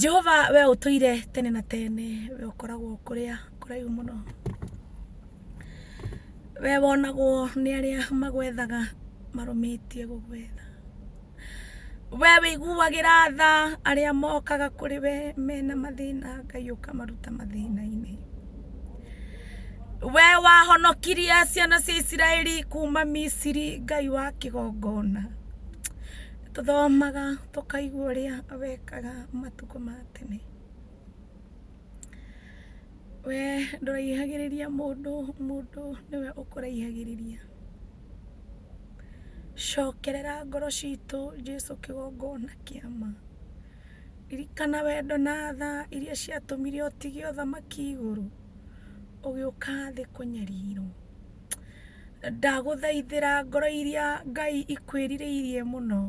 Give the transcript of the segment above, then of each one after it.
jehova we ũtũire tene na tene we ũkoragwo kũrĩa kũraihu mũno we wonagwo nĩ arĩa magwethaga marũmĩtie gũgwetha we wĩiguagĩra tha arĩa mokaga kũrĩ we mena mathĩna ngai ũkamaruta mathĩna-inĩ we wahonokirie ciana cia isiraeli kuma misiri ngai wa kĩgongona tũthomaga tũkaigua ũrĩa wekaga matukũ ma tene we ndũraihagĩrĩria mũndũ mũndũ nĩwe ũkũraihagĩrĩria cokerera ngoro citũ jesu kĩgongona kĩa ma ririkana wendo na tha iria ciatũmire ũtige ũthamaki igũrũ ũgĩũka thĩ kũnyarirwo ndagũthaithĩra ngoro iria ngai ikwĩrirĩirie mũno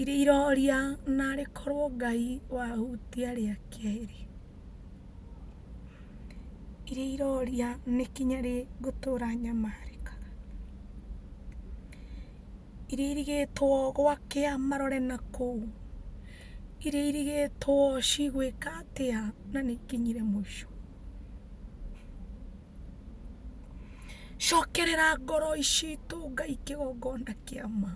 iria iroria narĩ korwo ngai wahutia rĩa kerĩ iria iroria nĩ kinya rĩ ngũtũra nyamarĩkaga iria irigĩtwo gwakĩa marore na kũu iria irigĩtwo cigwĩka atĩa na nĩ ikinyire mũico. cokerera ngoro citũ ngai kĩgongona kĩa ma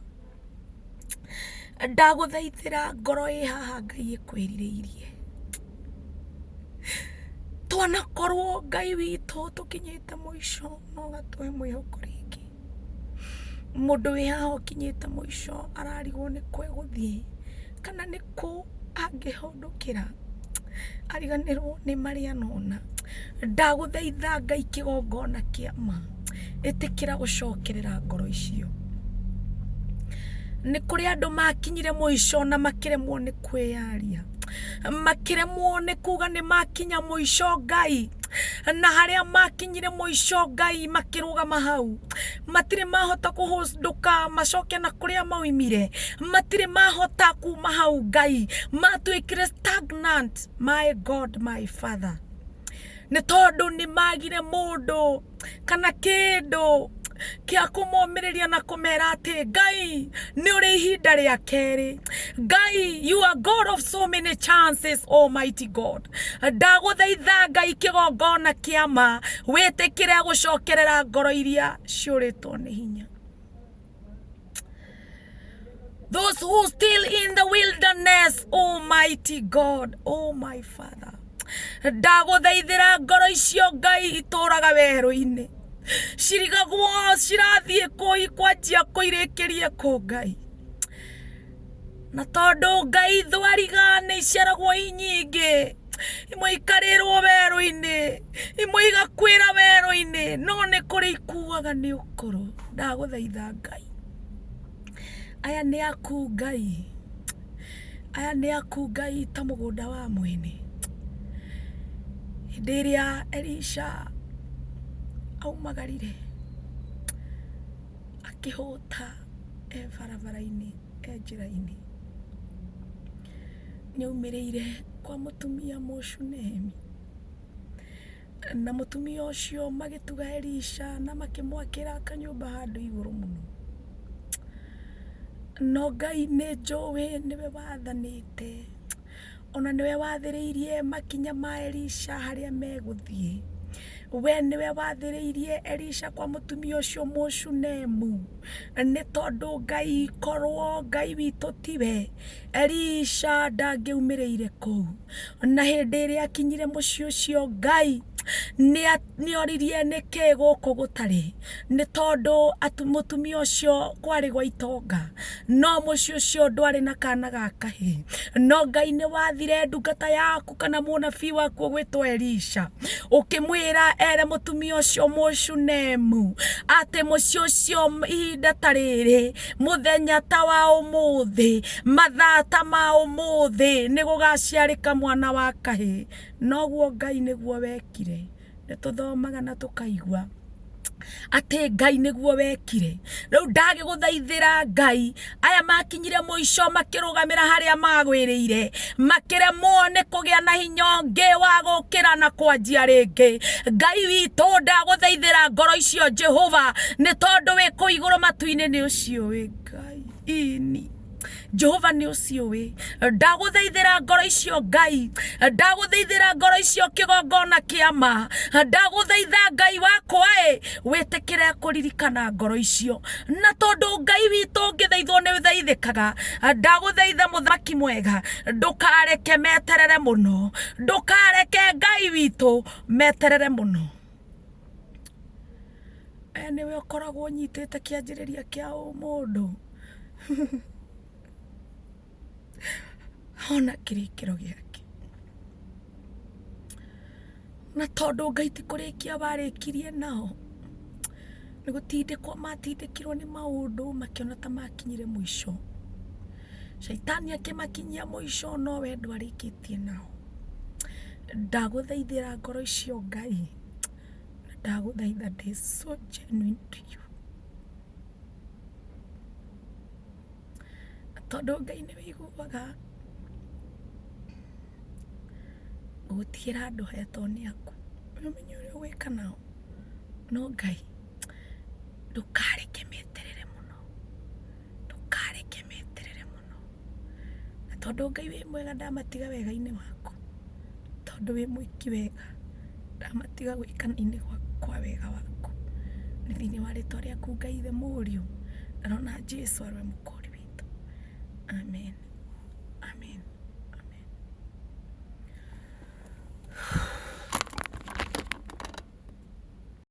ndagũthaithĩra ngoro ĩ haha ngai ĩkwĩrirĩirie twanakorwo ngai witũ tũkinyĩte mũico no ũgatũhe mwĩhoko rĩngĩ mũndũ wĩ haha ũkinyĩte mũico ararigwo nĩkũ egũthiĩ kana nĩkũ angĩhota ndũkĩra ariganĩrwo nĩ marĩa nona ndagũthaitha ngai kĩgongona kĩa ma ĩtĩkĩra gũcokerera ngoro icio nĩ kũrĩ andũ makinyire mũico na makĩremwo nĩ kwĩyaria makĩremwo nĩ kuga nĩ makinya mũico ngai na harĩa makinyire mũico ngai makĩrũgama hau matirĩ mahota kũhũndũka macoke na kũrĩa maumire matirĩ mahota kuma hau ngai matuĩkire stagnant my god my father nĩ tondũ nĩ magire mũndũ kana kĩndũ kĩa kũmomĩrĩria na kũmera atĩ ngai nĩ ũrĩ ihinda rĩa kerĩ ngai you are god of so many chances almighty god ndagũthaitha ngai kĩgongona kĩa ma wĩtĩkĩre gũcokerera ngoro iria ciũrĩtwo nĩ hinya Those who still in the wilderness, Almighty God, oh my Father. Ndagũthaithĩra ngoro icio Ngai itũũraga werũ-inĩ. Cirigagwo cirathiĩ kũi kwanjia kũirĩkĩrie kũ Ngai. na tondũ ngai thwariga nĩ iceragwo i nyingĩ imwe ikarĩrwo werũ-inĩ imwe igakwĩra werũ-inĩ no nĩ kũrĩ ikuaga nĩ ũkũrũ ndagũthaitha ngai aya nĩ aku ngai aya nĩ aku ngai ta mũgũnda wa mwene hĩndĩ ĩrĩa elisha aumagarire akĩhũta e barabara-inĩ e njĩra-inĩ, nĩ aumĩrĩire kwa mũtumia Mũshunemi, na mũtumia ũcio magĩtuga Elisha na makĩmwakĩra kanyũmba handũ igũrũ mũno. No Ngai nĩ njũĩ nĩwe wathanĩte O na nĩwe wathĩrĩirie makinya ma Elisha harĩa megũthiĩ. We nĩwe wathĩrĩirie Elisha kwa mũtumia ũcio Mũshunemu. Nĩ tondũ Ngai korwo Ngai witũ tiwe, Elisha ndangĩaumĩrĩire kũu. Na hĩndĩ ĩrĩa akinyire mũciĩ ũcio Ngai nĩ nĩoririe nĩkĩĩ gũkũ gũtarĩ, nĩ tondũ atĩ mũtumia ũcio kwarĩ gwa itonga, no mũciĩ ũcio ndwarĩ na kana ga kahĩĩ, no Ngai nĩwathire ndungata yaku kana mũnabii waku ũgwĩtwo Elisha, ũkĩmwĩra ere mũtumia ũcio Mũshunemu, atĩ mũciĩ ũcio ihinda ta rĩrĩ, mũthenya ta wa ũmũthĩ, mathaa ta ma ũmũthĩ, nĩgũgaciarĩka mwana wa kahĩĩ. noguo Ngai nĩguo wekire. Nĩ tũthomaga na tũkaigua atĩ Ngai nĩguo wekire. Rĩu ndagĩgũthaithĩra Ngai, aya makinyire mũico makĩrũgamĩra harĩa magwĩrĩire, makĩremwo nĩ kũgĩa na hinya ũngĩ wa gũkĩra na kwanjia rĩngĩ. Ngai witũ ndagũthaithĩra ngoro icio Jehova, nĩ tondũ wĩ kũu igũrũ matu-inĩ nĩ ũcio wĩ Ngai ini. jehova nĩ ũcio wĩ ndagũthaithĩra ngoro icio ngai ndagũthaithĩra ngoro icio kĩgongona kĩa ma ndagũthaitha ngai wakwa ĩ wĩtĩkĩre kũririkana ngoro icio na tondũ ngai witũ ũngĩthaithwo nĩ ũthaithĩkaga ndagũthaitha mũthaki mwega ndũkareke meterere mũno ndũkareke ngai witũ meterere mũno we nĩwe ũkoragwo ũnyitĩte kĩanjĩrĩria kĩa ũmũndũ ona kĩrĩkĩro gĩake na tondũ ngai ti kũrĩkia warĩkirie nao nĩ gũtindĩkwo matindĩkirwo nĩ maũndũ makĩona ta makinyire mũico Shaitani akĩmakinyia mũico no we ndwarĩkĩtie nao. Ndagũthaithĩra ngoro icio Ngai, na ndagũthaitha ndĩ so genuine to you. Tondũ Ngai nĩ ũiguaga gũtigĩra andũ hetwo nĩ aku, nĩ ũmenye ũrĩa ũgwĩka nao. No Ngai ndũkareke meterere mũno. ndũkareke meterere mũno na tondũ ngai wĩ mwega ndamatiga wega-inĩ waku tondũ wĩ mwĩki wega ndamatiga gwĩkana-inĩ kwa wega waku nĩ thĩinĩ wa rĩtwa rĩaku ngai ithe mũriũ na rona jesu arwe mũkũri witũ amen amen amen